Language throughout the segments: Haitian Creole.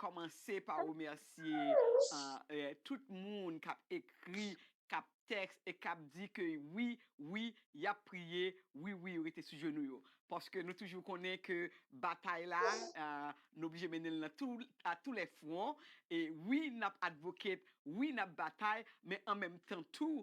Kòmanse pa remèsye tout moun kap ekri, kap tèks e kap di ke wi, wi yap priye, wi, wi yo rete sou jenou yo. Paske nou toujou konnen ke batay la nou oblije mennen l a tou lè fwon e wi nap advocate, wi nap batay men an menm tan tou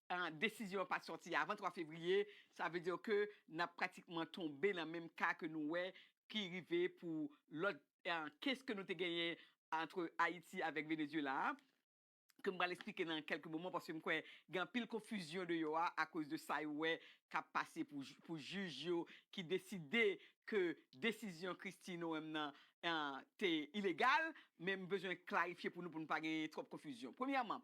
Desizyon an pat sòti avan 3 fevriye, sa vle dire ke nap pratikman tonbe nan menm ka ke nou wè ki rive pou lòt kes ke nou te genyen antre Ayiti avèk Venezuela a, ke m pral esplike nan kèlke moman paske m kwè gen anpil konfizyon deyò a akoz de sa yo wè kap pase pou jij yo ki deside ke desizyon Christie Noem nan te ilegal, men m bezwen klarifye pou nou pou nou pa genyen twòp konfizyon. Premyèman,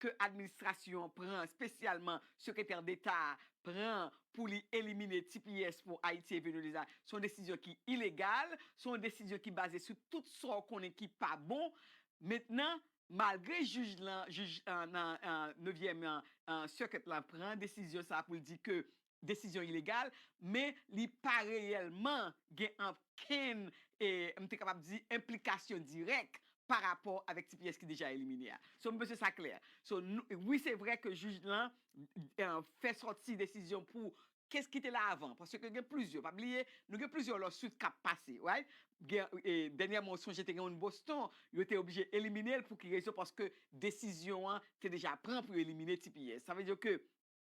ke administrasyon an pran, spesyalman Sekretè Deta a pran pou li elimine tps pou Ayiti e Venweleza, se yon desizyon ki ilegal, se yon desizyon ki baze sou tout sa w konnen ki pa bon. Mentnan, malgre jij lan, jij nan nevyèm circuit lan pran desizyon sa a pou l di ke desizyon ilegal, men li pa reyèlman gen okenn, m te kapab di, enplikasyon dirèk pa rapò avèk tps ki deja elimine a. So, m panse sa klè. So, wi se vrè ke jij lan fè sòti desizyon pou kes ki te la avan, paske gen plizyè, pa bliye, nou gen plizyè lawsuit k ap pase, right? Dènyèman ou sonje te gen youn Boston, yo te oblije elimine l pou ki rezon? Paske desizyon an te deja pran pou yo elimine tps. Sa vle di ke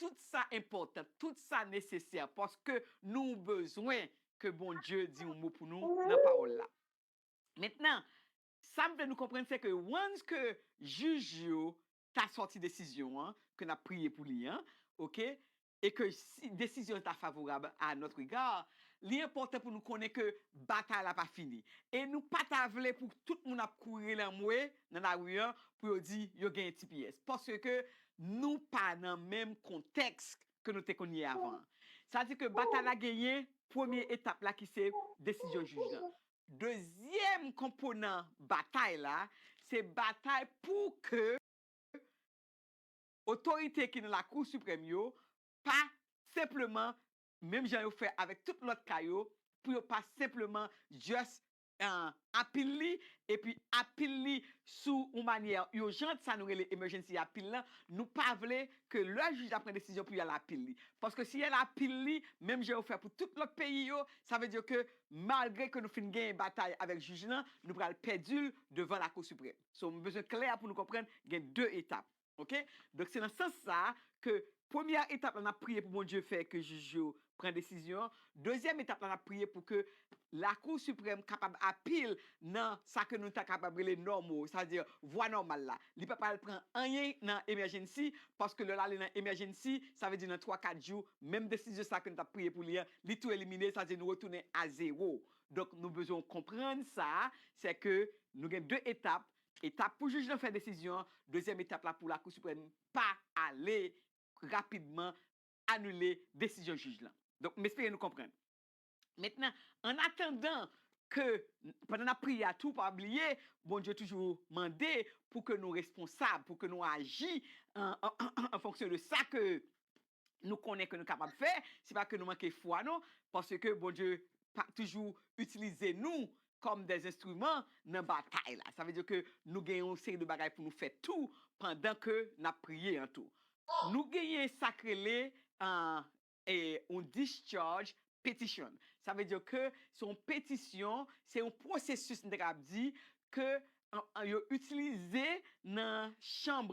Tout sa enpòtan, tout sa nesesè paske nou bezwen ke Bondye di yon mo pou nou nan pawòl la. Mentnan, sa m vle nou konprann se ke once ke jij yo ta sòti desizyon an ke n ap priye pou li an, ok, e ke si desizyon an ta favorab a notre egard, li enpòtan pou nou konnen ke batay la pa fini. E nou pa ta vle pou tout moun ap kouri lanmwe nan lari an pou yo di yo genyen tps. Paske ke Nou pa nan menm kontèks ke nou te konn ye avan an. Sa di ke batay la genyen premye etap la ki se desizyon jij lan. Dezyèm konponan batay la, se batay pou ke otorite ki nan Lakou Siprèm yo pa senpleman, menm jan yo fè avèk tout lòt ka yo, pou yo pa senpleman just apil li epi apil li sou yon manyè urgent sa nou rele emergency apil lan nou pa vle ke lè jij la pran desizyon pou yal apil li paske si yal apil li menm jan yo fè pou tout lòt peyi yo sa vle di ke malgre ke nou fin genyen batay avèk jij lan nou pral pèdil devan lakou siprèm so m bezwen klè pou nou konprann gen 2 etap. Ok donk se nan sans sa ke premyè etap la nap priye pou Bondye fè ke jij yo pran desizyon an, dezyèm etap la nap priye pou ke lakou siprèm kapab apil nan sa ke nou ta kapab rele nòmo sa vle di vwa nòmal la li pa pral pran anyen nan emèjennsi paske lè lale nan emèjennsi sa vle di nan 3 4 jou menm desizyon sa ke nou tap priye pou li an li tou elimine sa vle di nou retounen a zewo donk nou bezwen w konprann sa sè ke nou gen 2 etap Etap pou jij lan fè desizyon an, Dezyèm etap la pou Lakou Siprèm pa ale rapidman anile desizyon jij lan. Donk, m espere nou konprann. Mentnan, ann atandan ke, pandan n ap priye a tou, pa bliye, Bondye toujou mande pou ke nou responsab, pou ke nou aji an fonksyon de sa ke nou konnen ke nou kapab fè, se pa ke nou manke fwa non, paske Bondye pa toujou itilize nou kòm dè enstriman nan batay la. Sa vle di ke nou gen yon seri de bagay pou nou fè tou pandan ke n ap priye an tou. Nou genyen sa k rele yon discharge petition. Sa vle di ke se yon petisyon, se yon pwosesis m te kapab di ke yo itilize nan chanm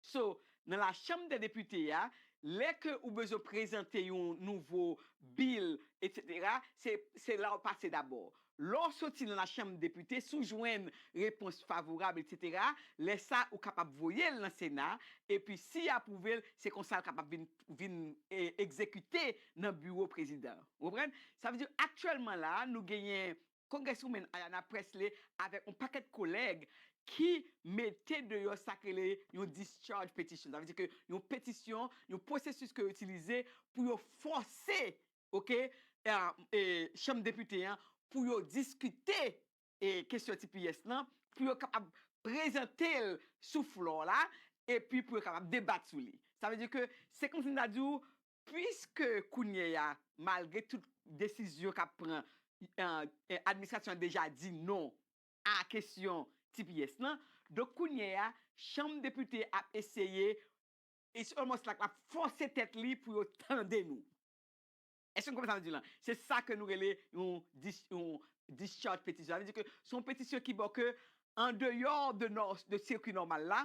So, nan la chanm dè depite a, lè ke ou bezwen prezante yon nouvo bill etc. Se, se la ou pase dabò. Lè ou soti nan la chanm depite, si ou jwenn repons favorab etc. Lè sa ou kapab voye'l nan sena, epi si ya pwouve'l, se konsa li kapab vin, vin egzekite nan biwo prezidan. Ou konprann? Sa vle di aktyèlman la, nou genyen Congresswoman Ayanna Pressley avèk yon pakèt kolèg ki mete deyò sa k rele yon discharge petition. Sa vle di ke yon petisyon, yon pwosesis ke yo itilize pou yo fòse ok chanm depite an pou yo diskite kesyon tps lan, pou yo kapab prezante l sou floor la epi pou yo kapab debat sou li. Sa vle di ke se kòmsi m ta di w Puiske kounye a, malgre tout desizyon k ap pran, administrasyon an deja di non a kesyon tps lan, donk kounye a, Chanm Depite ap eseye, it's almost like l ap fòse tèt li pou yo tande nou. Èske nou konprann sa m di lan? Se sa ke nou rele yon discharge petition. Sa vle di ke se yon petisyon ki bo ke andeyò de sirkwi nòmal la,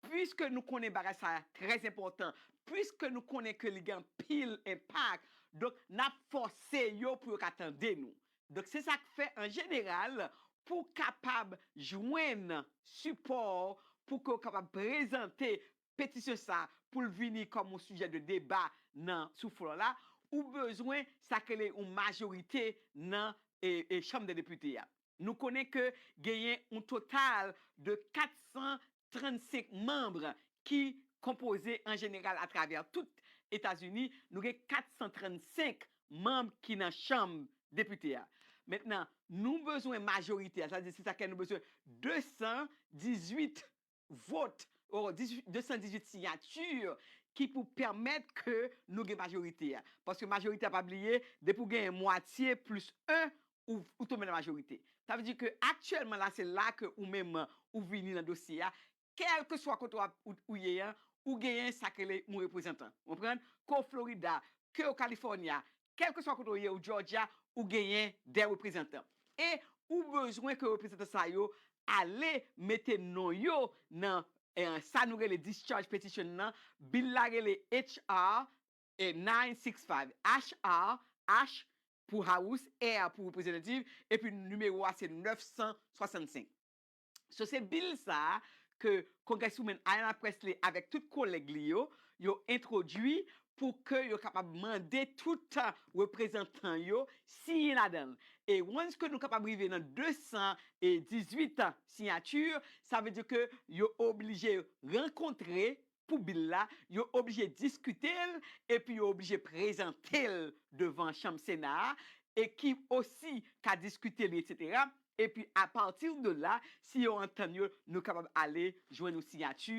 Puiske nou konnen bagay sa a trè enpòtan, puiske nou konnen ke li gen anpil enpak, donk n ap fòse yo pou yo ka tande nou. Donk se sa k fè an jeneral pou w kapab jwenn sipò pou ke w kapab prezante petisyon sa a pou l vini kòm yon sijè de deba nan sou flò la, ou bezwen sa k rele yon majorite nan chanm dè depite a. Nou konnen ke genyen yon total de 400 35 manb ki konpoze an jeneral atravè tout Etazini, nou gen 435 manb ki nan chanm depite a. Mentnan, nou bezwen majorite a, sa vle di se sa kè nou bezwen 218 vot, o 218 siyati ki pou pèmèt ke nou gen majorite a. Paske majorite a pa bliye, depi w genyen mwatye plis 1, ou tonbe nan majorite. Sa vle di ke aktyèlman la se la ke ou menm ou vini nan dosye a, kèlkeswa kote ou ye an, ou genyen sa k rele yon reprezantan. Ou konprann? Ke w Florida, ke w California, kèlkeswa kote ou ye, ou Georgia, ou genyen de reprezantan. E ou bezwen ke reprezantan sa yo ale mete non yo nan sa nou rele discharge petition nan, bil la rele HR Nine six five HR, H pou House, R pou Representative, epi nimewo a se 965. So se bil sa a ke Congresswoman Ayanna Pressley avèk tout kolèg li yo, yo entwodui pou ke yo kapab mande tout reprezantan yo siyen ladan l. E once ke nou kapab rive nan 218 siyati, sa vle di ke yo oblije rankontre pou bil la, yo oblije diskite l epi yo oblije prezante l devan chanm Sena a e ki osi ka diskite li etc. Epi apati de la, si yo antann yo, nou kapab ale jwenn yon siyati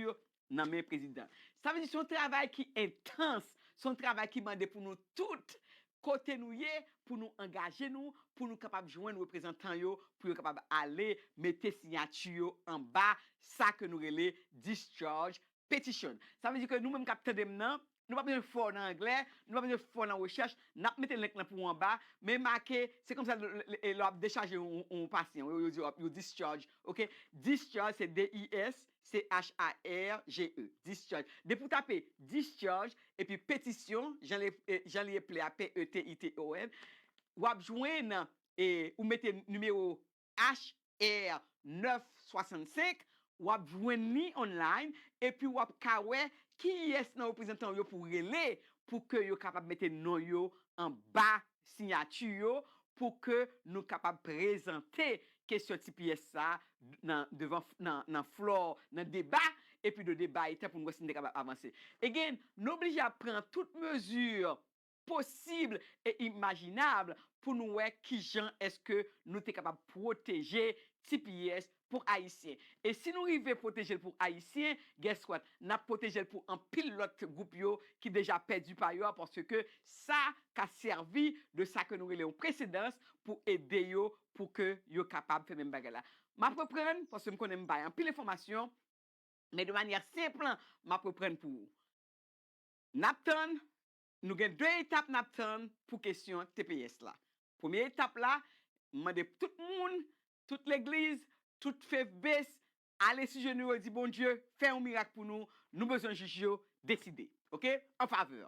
nan men prezidan. Sa vle di se yon travay ki entans, se yon travay ki mande pou nou tout Kote nou ye pou nou angaje nou pou nou kapab jwenn reprezantan yo pou yo kapab ale mete siyati yo anba sa ke nou rele discharge petition. Sa vle di ke nou menm kap tande m nan, nou pa bezwen fò nan anglè, nou pa bezwen fò nan rechèch, nap mete link lan pou ou anba, men make, se konsa lè wap dechaje yon pasyan, yo di yo discharge, ok, discharge se D-I-S, CHARGE, discharge. Depi w tape discharge epi petition, jan li eple a, p-e-t-i-t-i-o-n, w ap jwenn, ou mete nimewo HR 965, w ap jwenn li online epi w ap ka wè kiyès nan reprezantan w yo pou w rele pou ke yo kapab mete non yo anba Siyati yo pou ke nou kapab prezante kesyon tps sa a nan devan nan floor nan deba epi de deba etan pou nou wè si nou te kapab avanse. Again, nou oblije ap pran tout mezi posib e imajinab pou nou wè kijan eske nou te kapab pwoteje tps pou ayisyen e si nou rive pwotejel pou ayisyen guess what nap pwotejel pou anpil lòt gwoup yo ki deja pèdi pa yo a paske sa ka sèvi de sa ke nou rele yon presedans pou ede yo pou ke yo kapab fè menm bagay la map reprann paske m konnen m bay anpil enfòmasyon men de manyè senp map reprann pou ou nap tann nou gen 2 etap nap tann pou kesyon tps la premye etap la m mande tout moun Tout legliz, tout faith base ale sou jenou yo di Bondye fè yon mirak pou nou, nou bezwen jij yo deside ok an favè.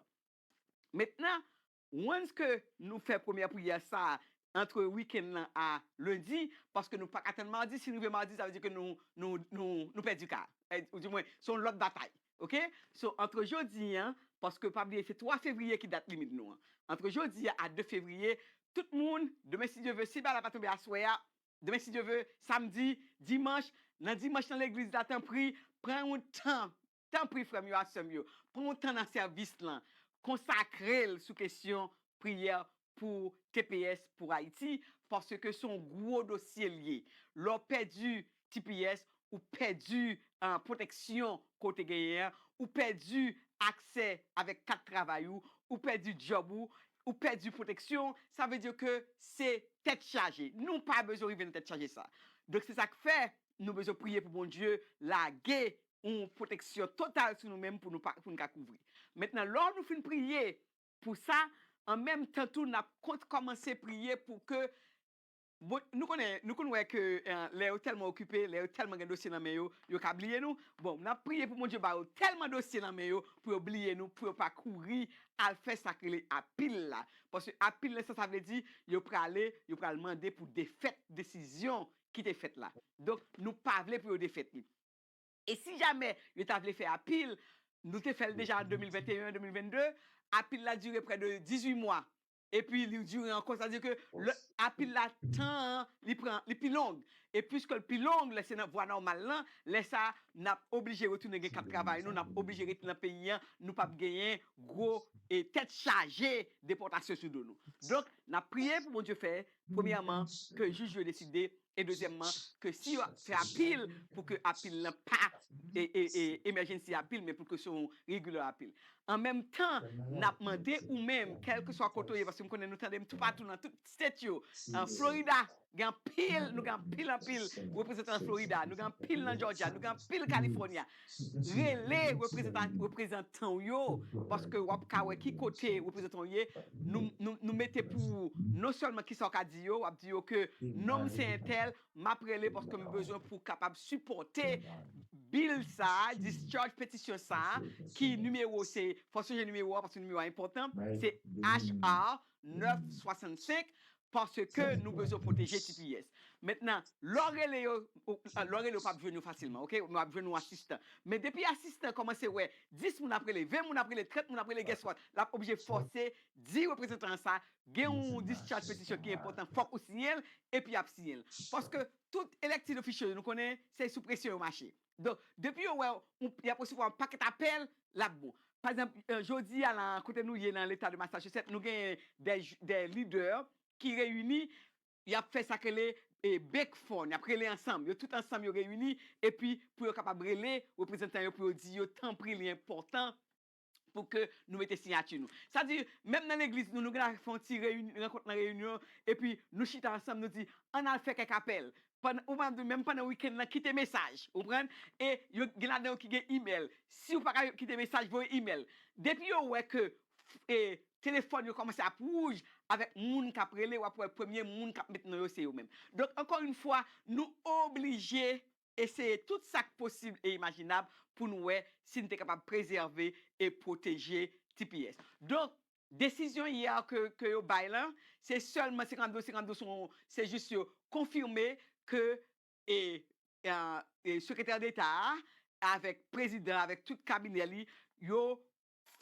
Mentnan once ke nou fè premyè priyè sa antre weekend lan a lundi paske nou paka tann mardi si n rive mardi sa vle di ke nou nou nou pèdi ka a ou di mwen se yon lòt batay Ok so antre jodi an paske pa bliye se 3 fevriye ki dat limit nou an antre jodi a a 2 fevriye tout moun demen si Dye ve si bala pa tonbe aswè a demen si Dye ve samdi dimanch nan dimanch nan legliz la tanpri pran yon tan tanpri frè m yo ak sè m yo pran yon tan nan sèvis lan konsakrel sou kesyon priyè pou tps pou Haiti paske son gwo dosye li ye lè w pèdi tps ou pèdi pwoteksyon ke w te genyen an ou pèdi aksè avèk kat travay ou ou pèdi djòb ou ou pèdi pwoteksyon sa vle di ke se tèt chaje nou pa bezwen rive nan tèt chaje sa donk se sa k fè nou bezwen priye pou Bondye lage yon pwoteksyon total sou nou menm pou nou ka kouvri mentnan lò nou fin priye Pou sa, an menm tan tou n ap kont kòmanse priye pou ke Bon, nou konnen, nou konn wè ke lè yo tèlman okipe, lè yo tèlman gen dosye nan men yo, yo ka bliye nou. Bon, n ap priye pou Bondye ba yo tèlman dosye nan men yo pou yo bliye nou, pou yo pa kouri al fè sa k rele apil la. Paske apil nan sa sa vle di, yo prale, yo pral mande pou defèt desizyon ki te fèt la. Donk, nou pa vle pou yo defèt li. E si jamè yo ta vle fè apil, nou te fè l deja an 2021, 2022, apil la dire prè de 18 mwa, epi li dire ankò, sa vle di ke lè apil la tan an li pran li pi long, e piske l pi long, lè se nan vwa nòmal lan, lè sa n ap oblije retounen gen kat travay nou, n ap oblije rete nan peyi an, nou p ap genyen gwo tèt chaje depòtasyon sou do nou. Donk, n ap priye pou Bondye fè, premyèman, ke jij yo deside e dezyèmman ke si yo ap fè apil pou ke apil lan pa emergency apil men pou ke se yon regular apil. An menm tan, n ap mande ou menm, kèlkeswa kote ou ye, paske m konnen nou tande m toupatou nan tout state yo, Florida gen anpil, nou gen anpil anpil reprezantan nan Florida, nou gen anpil nan Georgia, nou gen anpil California, Rele reprezantan w yo paske w ap ka wè ki kote reprezantan w ye. Nou mete pou ou non sèlman kisa w ka di yo, w ap di yo ke non m se entèl, m ap rele paske m bezwen pou kapab sipòte bil sa, discharge petisyon sa ki nimewo se, fòk sonje nimewo a paske nimewo a enpòtan, se HR 965. Paske nou bezwen pwoteje tps. Mentnan lè w rele yo, lè w rele yo pap jwenn yo fasilman ok, yo ap jwenn yon asistan. Men depi asistan an kòmanse wè 10 moun ap rele, 20 moun ap rele, 30 moun ap rele guess what, lap oblije fòse di reprezantan an sa gen yon discharge petition ki enpòtan fòk ou siyen l epi yap siyen l. Paske tout elected official yo nou konnen se sou presyon yo mache. Donk, depi yo wè w, y ap resevwa yon pakèt apèl, l ap bon. Pa egzanp, jodi a la a, kote nou ye nan Leta de Massachusetts, nou genyen dè lidè ki reyini, y ap fè sa k rele bake phone, y ap rele ansanm, yo tout ansanm yo reyini, epi pou yo kapab rele reprezantan yo pou yo di yo tanpri li enpòtan pou ke nou mete siyati nou. Sa di, menm nan legliz nou, nou gen dwa fè yon ti reyinyon, rankont nan reyinyon, epi nou chita ansanm, nou di, ann al fè kèk apèl. Pandan, ou manm di, menm pandan wikenn nan, kite mesaj. Ou konprann? E, yo, gen ladan yo ki gen imèl. Si ou pa ka kite mesaj, voye imèl. Depi yo wè ke, e, telefòn yo kòmanse ap wouj avèk moun k ap rele, w ap wè premye moun k ap met non yo se yo menm. Donk, ankò youn fwa, nou oblije. eseye tout sa k posib e imajinab pou n wè si n te kapab prezève e pwoteje tps. Donk, desizyon yè a ke yo bay lan, se sèlman 52 52 son, se jis yo konfime ke Sekretè Deta a avèk Prezidan avèk tout kabinè li, yo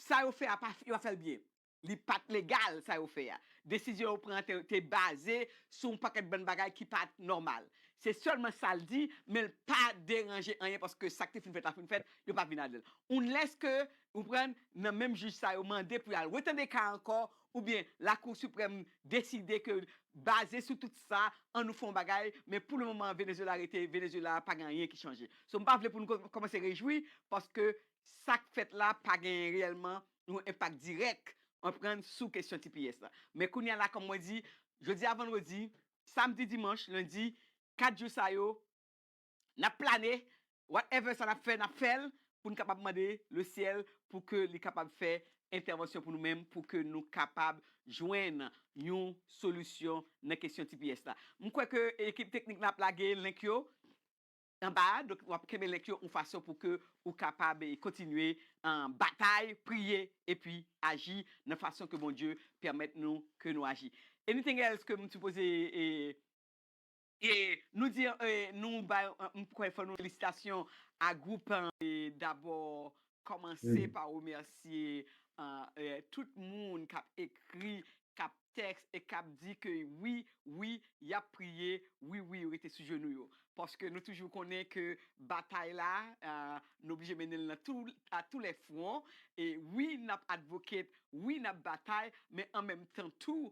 Sa yo fè a pa yo pa fè l byen. Li pa t legal sa yo fè a. Desizyon yo pran an te te baze sou yon pakèt bann bagay ki pa t nòmal. Se sèlman sa l di, men l pa deranje anyen paske sa k te fin fèt la fin fèt, yo pa vin ladan l. Unless ke, ou konprann, nan menm jij sa yo mande pou y al retande ka a ankò oubyen Lakou Siprèm deside ke baze sou tout sa, an nou fè yon bagay, men pou le moman an Venezuela rete Venezuela, pa gen anyen ki chanje. So m pa vle pou nou kòmanse rejwi paske sa k fèt la pa genyen reyèlman yon enpak dirèk, ou konprann, sou kesyon tps la. Men kounye a la, kòm mwen di, jodi a vandredi, samdi, dimanch, lendi, 4 jou sa yo, n ap plane, whatever sa n ap fè, n ap fè l pou n kapab mande lesyèl pou ke li kapab fè entèvansyon pou nou menm pou ke nou kapab jwenn yon solisyon nan kesyon tps la. M kwè ke ekip teknik la ap lage link yo. Anba a, donk wap kenbe link yo yon fason pou ke ou kapab kontinye batay, priye epi aji nan fason ke Bondye pèmèt nou ke nou aji. Anything else ke m sipoze. Nou di nou bay m kwè fò nou felisitasyon a group dabò Kòmanse pa remèsye tout moun kap ekri, kap tèks e kap di ke wi, wi, yap priye, wi, wi, yo rete sou jenou yo. Paske nou toujou konnen ke batay la, nou oblije mennen l a tou lè fwon. E wi, nap advocate, wi, nap batay, men an menm tan tou,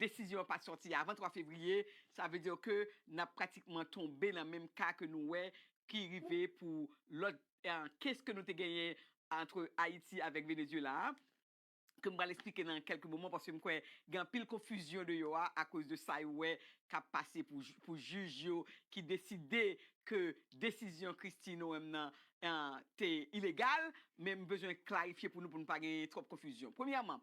Desizyon an pa t sòti avan 3 fevriye, sa vle di ke n ap pratikman tonbe nan menm ka ke nou wè ki rive pou lòt kes ke nou te genyen antre Ayiti avèk Venezyela a, ke m pral esplike nan kèlke moman paske m kwè gen anpil konfizyon deyò a akoz de sa yo wè k ap pase pou jij yo ki deside ke desizyon Kristi Noem nan te ilegal. Men m bezwen klarifye pou nou pou nou pa genyen twòp konfizyon. Premyèman,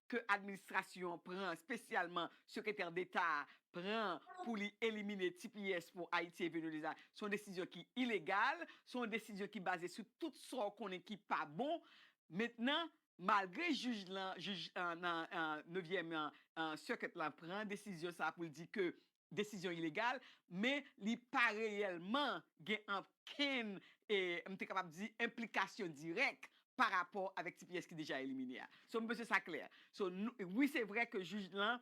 ke administrasyon an pran, spesyalman Sekretè Deta a pran pou li elimine tps pou Ayiti e Venweleza, se yon desizyon ki ilegal, se yon desizyon ki baze sou tout sa w konnen ki pa bon. Mentnan, malgre jij lan, jij nan nevyèm circuit lan pran desizyon sa a pou l di ke desizyon ilegal, men li pa reyèlman gen okenn, m te kapab di, enplikasyon dirèk pa rapò avèk tps ki deja elimine a. So, m panse sa klè. So, wi se vrè ke jij lan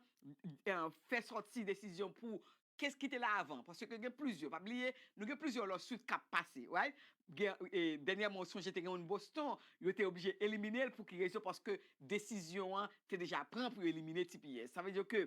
fè sòti desizyon pou kes ki te la avan, paske gen plizyè, pa bliye, nou gen plizyè lawsuit k ap pase, right? Dènyèman ou sonje te gen youn Boston, yo te oblije elimine l, pou ki rezon? Paske desizyon an te deja pran pou yo elimine tps. Sa vle di ke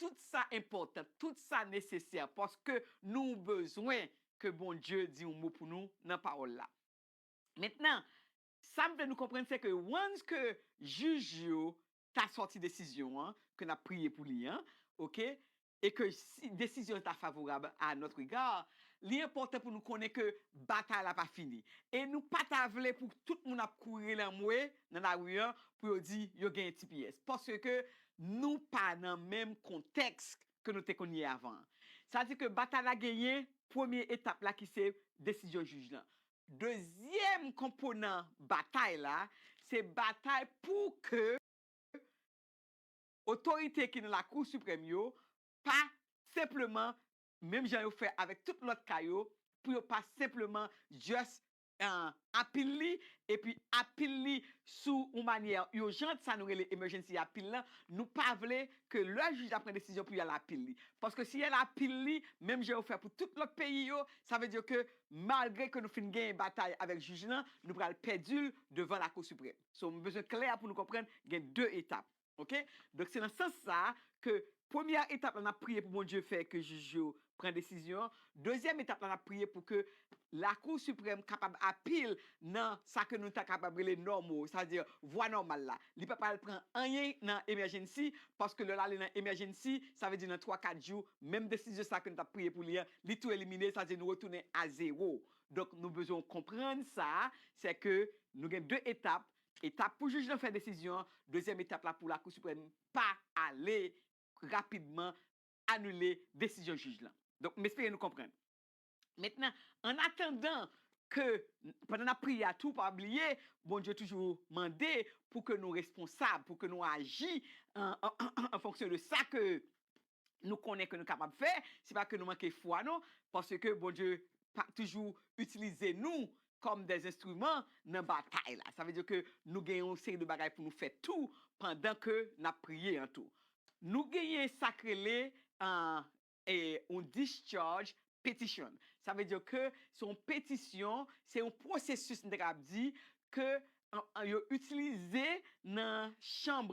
Tout sa enpòtan, tout sa nesesè paske nou bezwen ke Bondye di yon mo pou nou nan pawòl la. Mentnan, sa m vle nou konprann se ke once ke jij yo ta sòti desizyon an ke n ap priye pou li an, ok, e ke si desizyon ta favorab a notre egard, li enpòtan pou nou konnen ke batay la pa fini. E nou pa ta vle pou tout moun ap kouri lanmwe nan lari an pou yo di yo genyen tps. Paske ke Nou pa nan menm kontèks ke nou te konn ye avan an. Sa di ke batay la genyen premye etap la ki se desizyon jij lan. Dezyèm konponan batay la, se batay pou ke otorite ki nan Lakou Siprèm yo pa senpleman, menm jan yo fè avèk tout lòt ka yo, pou yo pa senpleman just apil li epi apil li sou yon manyè urgent sa nou rele emergency apil lan nou pa vle ke lè jij la pran desizyon pou yal apil li paske si yal apil li menm jan yo fè pou tout lòt peyi yo sa vle di ke malgre ke nou fin genyen batay avèk jij lan nou pral pèdil devan lakou siprèm so m bezwen klè pou nou konprann gen 2 etap. Ok donk se nan sans sa ke premyè etap la nap priye pou Bondye fè ke jij yo pran desizyon an, dezyèm etap la nap priye pou ke lakou siprèm kapab apil nan sa ke nou ta kapab rele nòmo sa vle di vwa nòmal la li pa pral pran anyen nan emèjennsi paske lè lale nan emèjennsi sa vle di nan 3 4 jou menm desizyon sa ke nou tap priye pou li an li tou elimine sa vle di nou retounen a zewo donk nou bezwen w konprann sa sè ke nou gen 2 etap Etap pou jij lan fè desizyon an, Dezyèm etap la pou Lakou Siprèm pa ale rapidman anile desizyon jij lan. Donk, m espere nou konprann. Mentnan, ann atandan ke, pandan n ap priye a tou, pa bliye, Bondye toujou mande pou ke nou responsab, pou ke nou aji an fonksyon de sa ke nou konnen ke nou kapab fè, se pa ke nou manke fwa non, paske Bondye pa toujou itilize nou kòm dè enstriman nan batay la. Sa vle di ke nou gen yon seri de bagay pou nou fè tou pandan ke n ap priye an tou. Nou genyen sa k rele yon discharge petition. Sa vle di ke se yon petisyon, se yon pwosesis m te kapab di ke yo itilize nan chanm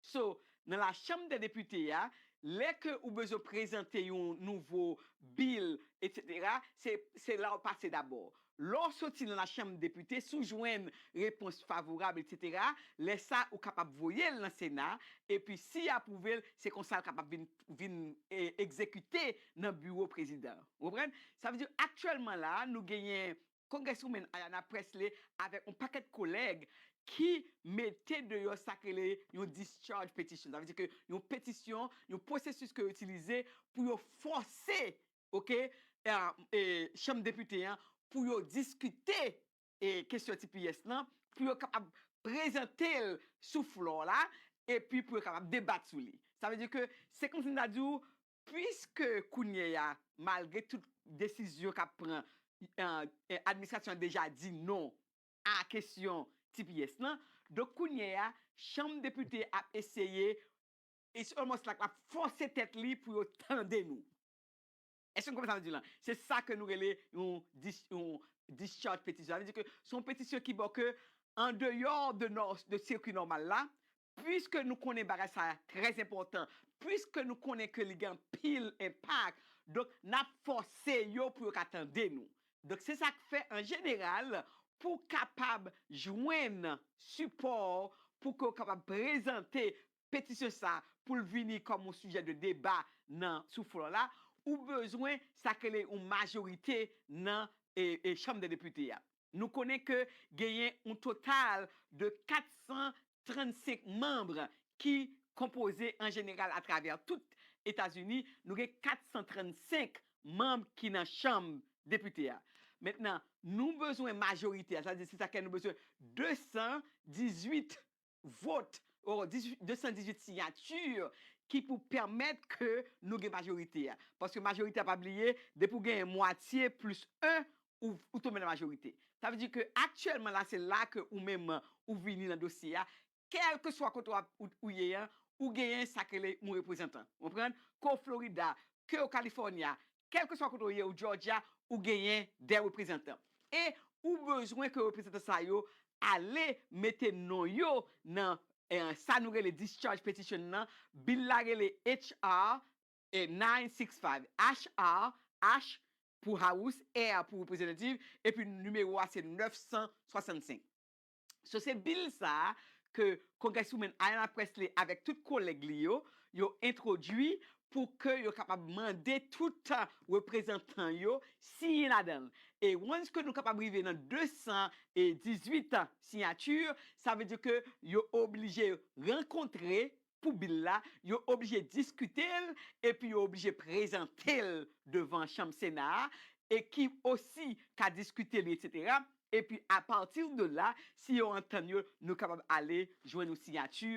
So, nan la chanm dè depite a, lè ke ou bezwen prezante yon nouvo bill etc. Se, se la ou pase dabò. Lè ou soti nan la chanm depite, si ou jwenn repons favorab etc. Lè sa ou kapab voye'l nan sena, epi si ya apwouve'l, se konsa'l kapab vin, vin egzekite nan biwo prezidan. Ou konprann? Sa vle di aktyèlman la, nou genyen Congresswoman Ayanna Pressley avèk yon pakèt kolèg ki mete deyò sa k rele yon discharge petition. Sa vle di ke yon petisyon, yon pwosesis ke yo itilize pou yo fòse ok chanm depite an pou yo diskite kesyon tps lan, pou yo kapab prezante l sou flò la epi pou yo kapab debat sou li. Sa vle di ke se kòmsi m ta di w Puiske kounye a, malgre tout desizyon k ap pran, administrasyon an deja di non a kesyon tps lan, donk kounye a, Chanm Depite ap eseye, it's almost like l ap fòse tèt li pou yo tande nou. Èske nou konprann sa m di lan? Se sa ke nou rele yon discharge petition. Sa vle di ke se yon petisyon ki bo ke andeyò de sirkwi nòmal la, Puiske nou konnen bagay sa a trè enpòtan, puiske nou konnen ke li gen anpil enpak, donk n ap fòse yo pou yo ka tande nou. Donk se sa k fè an jeneral pou w kapab jwenn sipò pou ke w kapab prezante petisyon sa a pou l vini kòm yon sijè de deba nan sou flò la, ou bezwen sa k rele yon majorite nan chanm dè depite a. Nou konnen ke genyen yon total de 400 35 manb ki konpoze an jeneral atravè tout Etazini, nou gen 435 manb ki nan chanm depite a. Mentnan, nou bezwen majorite a, sa vle di se sa kè nou bezwen 218 vot, o 218 siyati ki pou pèmèt ke nou gen majorite a. Paske majorite a pa bliye, depi w genyen mwatye plis 1, ou tonbe nan majorite. Sa vle di ke aktyèlman la se la ke ou menm ou vini nan dosye a, kèlkeswa kote wap ou ye an, ou genyen sa k rele yon reprezantan. Ou konprann? Ke w Florida, ke w California, kèlkeswa kote ou ye, ou Georgia, ou genyen 2 reprezantan. E ou bezwen ke reprezantan sa yo ale mete non yo nan sa nou rele discharge petition nan, bil la rele HR E 9, 6, 5. H, R, H pou House, R pou Representative, epi nimewo a se 965. So se bil sa a ke Congresswoman Ayanna Pressley avèk tout kolèg li yo, yo entwodui pou ke yo kapab mande tout reprezantan yo siyen ladan l. E once ke nou kapab rive nan 218 siyati, sa vle di ke yo oblije rankontre pou bil la, yo oblije diskite l epi yo oblije prezante l devan chanm Sena a e ki osi ka diskite li etc. Epi apati de la, si yo antann yo, nou kapab ale jwenn yon siyati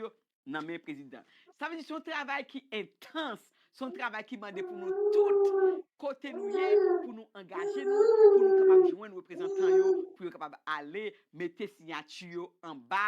nan men prezidan. Sa vle di se yon travay ki entans, se yon travay ki mande pou nou tout, kote nou ye, pou nou angaje nou, pou nou kapab jwenn reprezantan yo pou yo kapab ale mete siyati yo anba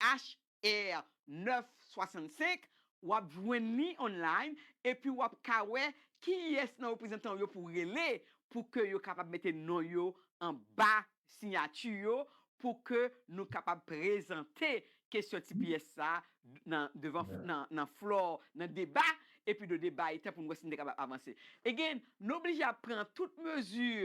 HR 965, w ap jwenn li online epi w ap ka wè kiyès nan reprezantan w yo pou w rele pou ke yo kapab mete non yo anba siyati yo pou ke nou kapab prezante kesyon tps sa nan devan nan floor nan deba epi de deba etan pou nou wè si nou te kapab avanse. Again, nou oblije ap pran tout mezi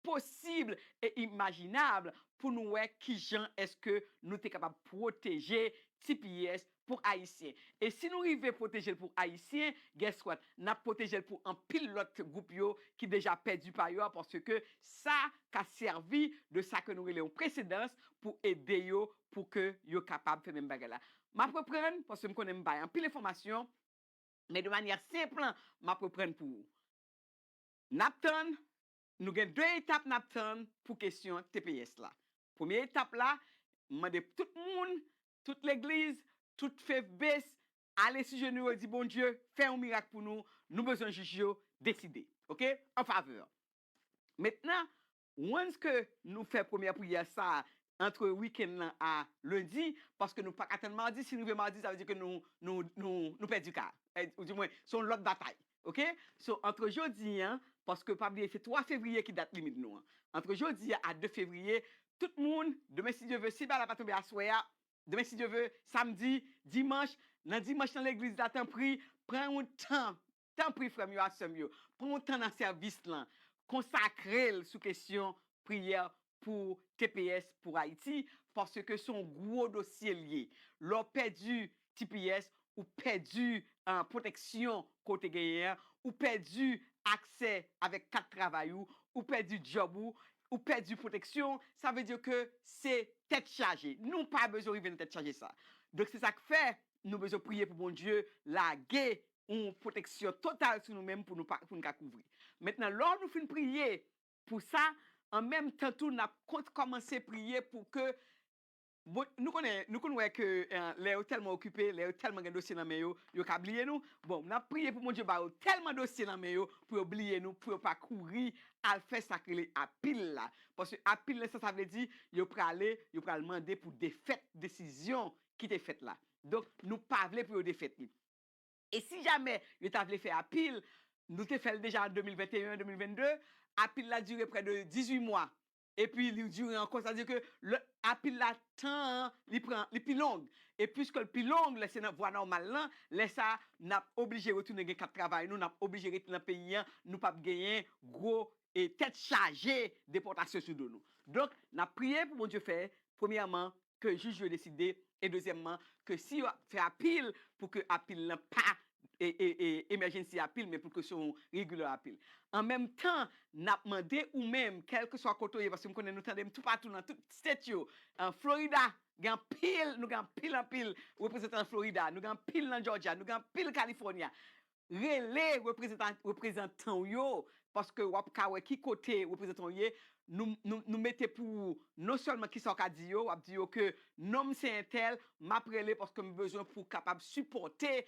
posib e imajinab pou nou wè kijan èske nou te kapab pwoteje tps pou Ayisyen. E si nou rive pwoteje l pou Ayisyen, guess what, n ap pwoteje l pou anpil lòt gwoup yo ki deja pèdi pa yo a paske sa ka sèvi de sa ke nou rele yon presedans pou ede yo pou ke yo kapab fè menm bagay la. M ap reprann, paske m konnen m bay anpil enfòmasyon, men de manyè senp, m ap reprann pou ou. N ap tann Nou gen 2 etap nap tann pou kesyon tps la. Premye etap la, m mande pou tout moun, tout legliz, tout fevbes ale sou jenou yo di Bondye fè yon mirak pou nou, nou bezwen jij yo deside ok an favè. Mentnan once ke nou fè premyè priyè sa antre weekend lan a lundi paske nou paka tann mardi si n rive mardi sa vle di ke nou pèdi ka a ou di mwen se yon lòt batay Ok so antre jodi an paske pa bliye se 3 fevriye ki dat limit nou an antre jodi a a 2 fevriye tout moun demen si Dye ve si bala pa tonbe aswè a demen si Dye ve samdi dimanch nan dimanch nan legliz la tanpri pran yon tan tanpri frè m yo ak sè m yo pran yon tan nan sèvis lan konsakre l sou kesyon priyè pou tps pou Haiti paske son gwo dosye li ye lè w pèdi tps ou pèdi pwoteksyon ke w te genyen an ou pèdi aksè avèk kat travay ou ou pèdi djòb ou ou pèdi pwoteksyon sa vle di ke se tèt chaje nou pa bezwen rive nan tèt chaje sa donk se sa k fè nou bezwen priye pou Bondye lage yon pwoteksyon total sou nou menm pou nou ka kouvri mentnan lò nou fin priye Pou sa, an menm tan tou n ap kont kòmanse priye pou ke Bon, nou konnen, nou konn wè ke lè yo tèlman okipe, lè yo tèlman gen dosye nan men yo, yo ka bliye nou. Bon, n ap priye pou Bondye ba yo tèlman dosye nan men yo pou yo bliye nou, pou yo pa kouri al fè sa k rele apil la. Paske apil nan sa sa vle di, yo prale, yo pral mande pou defèt desizyon ki te fèt la. Donk, nou pa vle pou yo defèt li. E si jamè yo ta vle fè apil, nou te fè l deja an 2021, 2022, apil la dire prè de 18 mwa, epi li dire ankò, sa vle di ke lè apil la tan an li pran li pi long, e piske l pi long, lè se nan vwa nòmal lan, lè sa n ap oblije retounen gen kat travay nou, n ap oblije rete nan peyi an, nou p ap genyen gwo tèt chaje depòtasyon sou do nou. Donk, n ap priye pou Bondye fè, premyèman, ke jij yo deside e dezyèmman ke si yo fè apil pou ke apil lan pa emèjensi apil men pou ke se yon regular apil. An menm tan n ap mande ou menm kèlkeswa kote w ye paske m konnen nou tande m toupatou nan tout state yo, Florida gen anpil nou gen anpil anpil reprezantan nan Florida, nou gen anpil nan Georgia, nou gen anpil California, Rele reprezantan w yo paske w ap ka wè ki kote reprezantan w ye. Nou mete pou ou non sèlman kisa w ka di yo, w ap di yo ke non m se entèl, m ap rele paske m bezwen pou kapab sipòte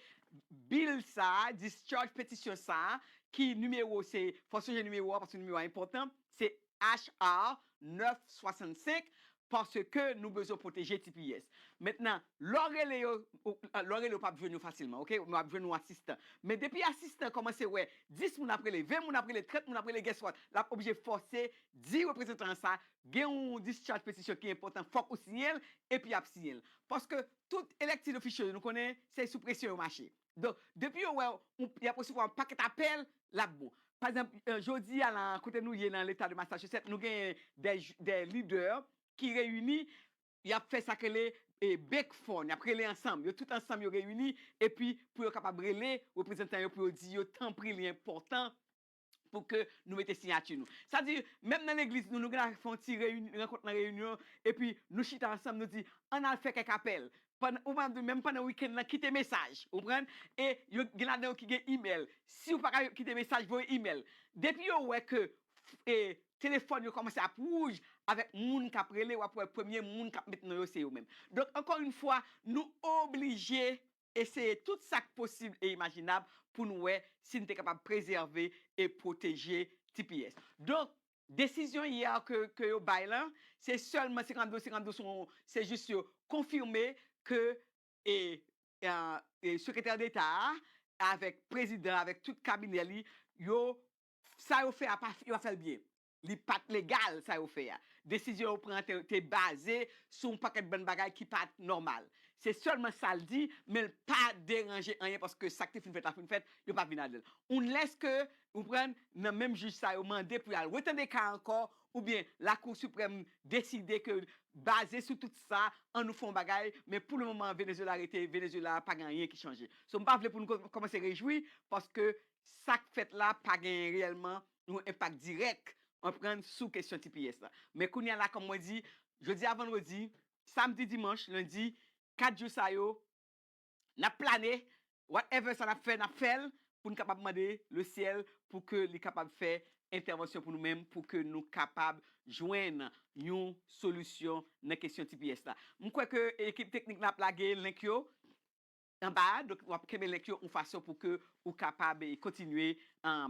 bil sa a, discharge petisyon sa a ki nimewo se, fò sonje nimewo a paske nimewo a enpòtan, se HR 965 paske nou bezwen pwoteje tps mentnan lè w rele yo lè w rele yo pap jwenn yo fasilman ok yo ap jwenn yon asistan men depi asistan kòmanse wè 10 moun ap rele 20 moun ap rele 30 moun ap rele guess what lap oblije fòse di reprezantan an sa gen yon discharge petition ki enpòtan fòk ou siyen l epi yap siyen l paske tout elected official yo nou konnen se sou presyon yo mache. Donk, depi yo wè w, y ap resevwa yon pakèt apèl, l ap bon. Pa egzanp, jodi a la a, kote nou ye nan Leta de Massachusetts, nou genyen dè lidè ki reyini, y ap fè sa k rele bake phone, y ap rele ansanm, yo tout ansanm yo reyini, epi pou yo kapab rele reprezantan yo pou yo di yo tanpri li enpòtan pou ke nou mete siyati nou. Sa di, menm nan legliz nou, nou gen dwa fè yon ti reyinyon, rankont nan reyinyon, epi nou chita ansanm, nou di, ann al fè kèk apèl. Pandan, ou manm di, menm pandan wikenn nan, kite mesaj. Ou konprann? E, yo, gen ladan yo ki gen imèl. Si ou pa ka kite mesaj, voye imèl. Depi yo wè ke, e, telefòn yo kòmanse ap wouj avèk moun k ap rele, w ap wè premye moun k ap met non yo se yo menm. Donk, ankò youn fwa, nou oblije. eseye tout sa k posib e imajinab pou n wè si n te kapab prezève e pwoteje tps. Donk, desizyon yè a ke yo bay lan, se sèlman 52 52 son, se jis yo konfime ke e Sekretè Deta a avèk Prezidan avèk tout kabinè li, yo, sa yo fè a pa, yo pa fè l byen. Li pa t legal sa yo fè a. Desizyon yo pran an te baze sou yon pakèt bann bagay ki pa t nòmal. Se sèlman sa l di, men l pa deranje anyen paske sa k te fin fèt la fin fèt, yo pa vin ladan l. Unlèske, ou konprann, nan menm jij sa yo mande pou y al retande ka a ankò oubyen Lakou Siprèm deside ke baze sou tout sa, an nou fè yon bagay, men pou lemoman an Venezuela rete Venezuela, pa gen anyen ki chanje. So m pa vle pou nou kòmanse rejwi paske sa k fèt la pa gen reyèlman yon enpak dirèk anprann sou kesyon tps la. Men kounye a la kòm mwen di, jodi a vandredi, samdi dimanch, lendi, 4 jou sa yo, n ap plane, whatever sa n ap fè, n ap fè l pou n kapab mande le syèl pou ke li kapab fè entèvansyon pou nou menm pou ke nou kapab jwenn yon solisyon nan kesyon tps la. M kwè ke ekip teknik la ap lage link yo. Anba a, donk wap kenbe link yo yon fason pou ke ou kapab kontinye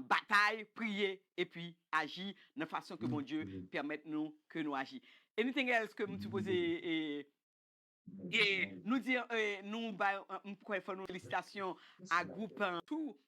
batay, priye epi aji nan fason ke Bondye pèmèt nou ke nou aji. Anything else ke m sipoze e nou di nou bay m kwè fò nou felisitasyon a group tou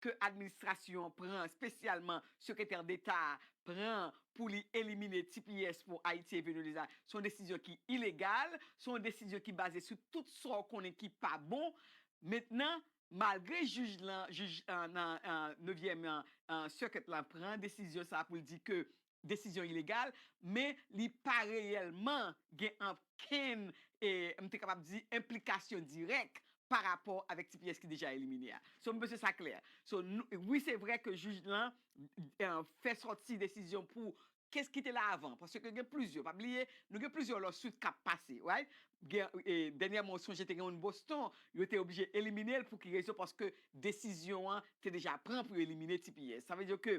ke administrasyon an pran, espesyalman Sekretè Deta a pran pou li elimine tps pou Ayiti e Venweleza, se yon desizyon ki ilegal, se yon desizyon ki baze sou tout sa w konnen ki pa bon. Mentnan, malgre jij lan, jij nan nevyèm circuit lan pran desizyon sa a pou l di ke desizyon ilegal, men li pa reyèlman gen okenn, m te kapab di, enplikasyon dirèk pa rapò avèk tps ki deja elimine a. So, m panse sa klè. So, wi se vrè ke jij lan fè sòti desizyon pou kes ki te la avan, paske gen plizyè, pa bliye, nou gen plizyè lawsuit k ap pase, right? Dènyèman ou sonje te gen youn Boston, yo te oblije elimine l pou ki rezon? Paske desizyon an te deja pran pou yo elimine tps. Sa vle di ke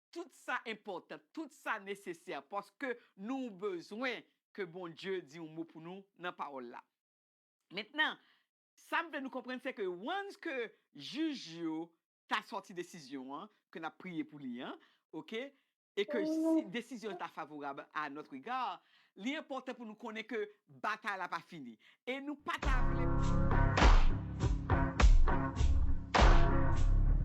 Tout sa enpòtan, tout sa nesesè paske nou bezwen ke Bondye di yon mo pou nou nan pawòl la. Mentnan, sa m vle nou konprann se ke once ke jij yo ta sòti desizyon an ke n ap priye pou li an, ok, e ke si desizyon an ta favorab a notre egard, li enpòtan pou nou konnen ke batay la pa fini e nou pa ta vle.